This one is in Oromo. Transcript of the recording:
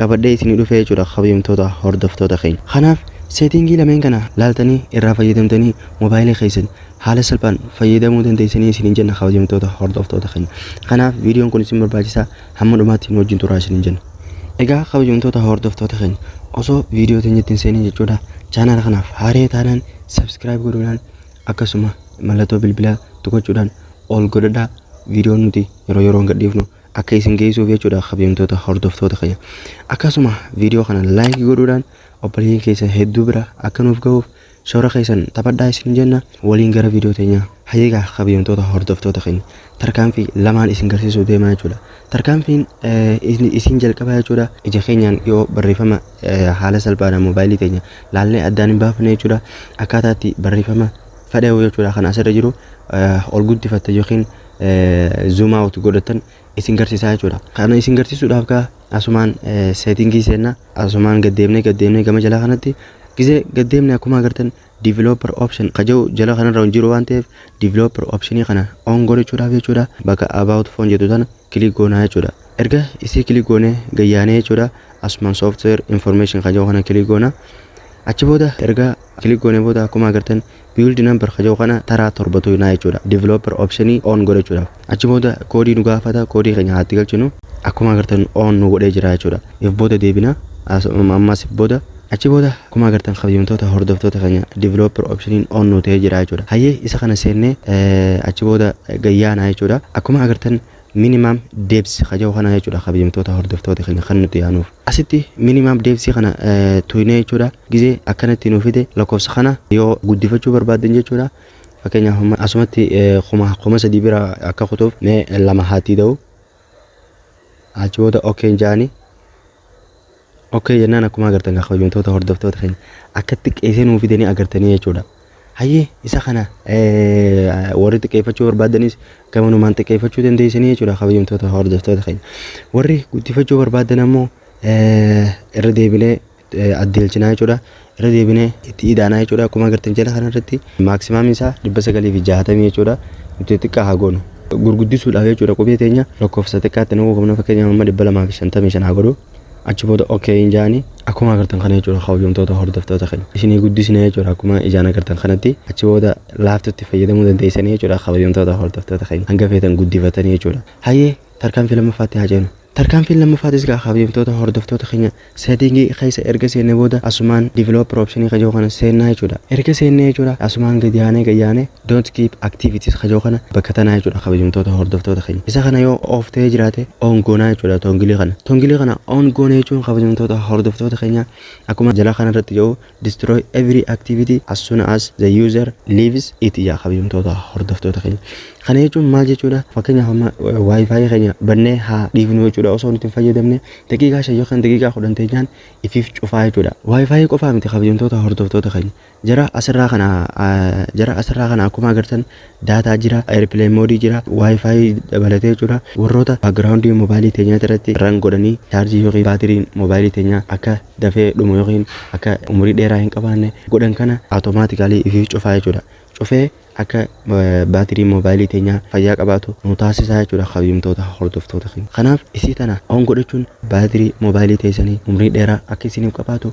qabadhee isinii dhufee jechuudha kabajamtoota hordoftoota keenya. Kanaaf setting lameen kana laaltanii irraa fayyadamtanii mobile keessan haala salphaan fayyadamuu dandeessanii isiniin jenna kabajamtoota hordoftoota keenya. Kanaaf viidiyoon kun isin barbaachisa hamma dhumaatti nu wajjin turaa isiniin jenna. Egaa kabajamtoota hordoftoota keenya osoo viidiyoo teenyatti hin seenin jechuudha chaanaala kanaaf haaree taanaan subscribe godhuudhaan akkasuma mallattoo bilbilaa tuqachuudhaan ol godhadhaa viidiyoon nuti yeroo yeroon gadhiifnu akka isin geessuuf jechuudha kabajamtoota hordoftoota keenya akkasuma viidiyoo kana laayikii godhuudhaan obboleeyyan keessan hedduu bira akka nuuf gahuuf shoora keessan taphadhaa isin jenna waliin gara viidiyoo teenyaa hayyeegaa kabajamtoota hordoftoota keenya tarkaanfii lamaan isin garsiisuuf deemaa jechuudha tarkaanfiin isin jalqabaa jechuudha ija keenyaan yoo barreeffama haala salphaadhaan moobaayilii teenya laallee addaan hin baafne jechuudha akkaataatti barreeffama fedheewu jechuudha kan asirra jiru ol guddifatta yookiin zoom out godhatan isin garsiisaa jechuudha. Kana isin garsiisuudhaaf kaa asumaan seetingii seenna asumaan gaddeemnee gaddeemnee gama jalaa kanatti gisee gaddeemnee akkuma agartan developer option ka jedhu jala kanarra hin jiru waan ta'eef developer optionii kana on godhachuudhaaf jechuudha bakka about phone jedhu tana kilik goonaa jechuudha. Erga isii kilik goonee gayyaanee jechuudha asumaan software information ka jedhu kana kilik goonaa. Achi booda erga kilik goonee booda akkuma agartan Build number ka jedhu kana taraa 7 tuqinaa jechuudha. Developer option on godhachuudhaaf. Achi booda koodii nu gaafata, koodii keenya haa itti galchinu. Akkuma agartan on nu godhee jira jechuudha. If booda deebina, as- ammas if booda. Achi booda akkuma agartan kabajamtoota hordoftoota keenya developer option on nu ta'ee jira jechuudha. Hayyee isa kana seennee eh, achi booda gayyaana jechuudha. Akkuma agartan minimum depths ka jedhu kana jechuudha kabajamtoota hordoftoota keenya kan nuti yaanuuf. Asitti minimum depth kana tuynee jechuudha. Gizee akkanatti nuu fide lakkoofsa kana yoo guddifachuu barbaaddan jechuudha. Fakkeenyaaf amma asumatti kuma kuma sadii bira akka kutuuf mee lama haa tiida'u. Achi booda okkeen jaani. Okkee jennaan akkuma agartan kan kabajamtoota hordoftoota keenya akka xiqqeessee nuu fidanii agartanii jechuudha. Hayyee isa kana warri xiqqeeffachuu barbaaddanis gamanumaan xiqqeeffachuu dandeessanii jechuudha kabajamtoota hordoftoota keenya. Warri guddifachuu barbaaddan ammoo irra deebinee addeelchinaa jechuudha. Irra deebinee itti idaanaa jechuudha. Akkuma agartan jala kanarratti maaksimaamii isaa dhibba sagalii fi jaatamii jechuudha. Nuti xiqqaa haa goonu. Gurguddisuudhaaf jechuudha qubee teenya lakkoofsa xiqqaatti naquu qabna fakkeenyaaf amma dhibba lamaa fi shantamii shan haa godhu. achi booda okay hin jaani akkuma agartan kana jechuudha kabajamtoota hordoftoota keenya isinii guddisne jechuudha akkuma ijaan agartan kanatti achi booda laaftutti fayyadamuu dandeessanii jechuudha kabajamtoota hordoftoota keenya hanga feetan guddifatanii jechuudha hayyee tarkaanfii lammaffaatti haa ceenu tarkaanfiin lammaffaattis gaa kabajamtoota hordoftoota keenya seetingii keessa erga seenne booda asumaan developer optionii kajoo kana seennaa jechuudha erga seennee jechuudha asumaan gadi aanee gayyaanee Don't keep activities kaja'u kana bakka tanaa jechuudha kabajamtoota hordoftoota keenya. Isa kana yoo off ta'ee jiraate on goonaa jechuudha tongilii kana. Tongilii kana on goone jechuun kabajamtoota hordoftoota keenya akkuma jalaa kana irratti ja'u destroy every activity as soon as the user leaves it ja'a kabajamtoota hordoftoota keenya. Kana jechuun maal jechuudha fakkeenyaaf amma wifi keenya bannee haa dhiifnu jechuudha osoo nuti hin fayyadamne daqiiqaa shan yookaan daqiiqaa kudhan teenyaan ifiif cufaa jechuudha. Wifi qofaa miti kabajamtoota hordoftoota keenya. Jara asirraa kana jara asirraa kana akkuma agartan daataa jira, airplane mode jira, wifi dabalatee jechuudha. Warroota background mobile teenyaa irratti run godhanii charge yookiin baatiriin mobile teenyaa akka dafee dhumu yookiin akka umurii dheeraa hin qabaanne godhan kana automatically ifiif cufaa jechuudha. Cufee akka baatirii mobile teenyaa fayyaa qabaatu nu taasisaa jechuudha kabajamtoota hordoftoota keenya. Kanaaf isii tana on godhachuun baatirii mobile teessanii umrii dheeraa akka isiniif qabaatu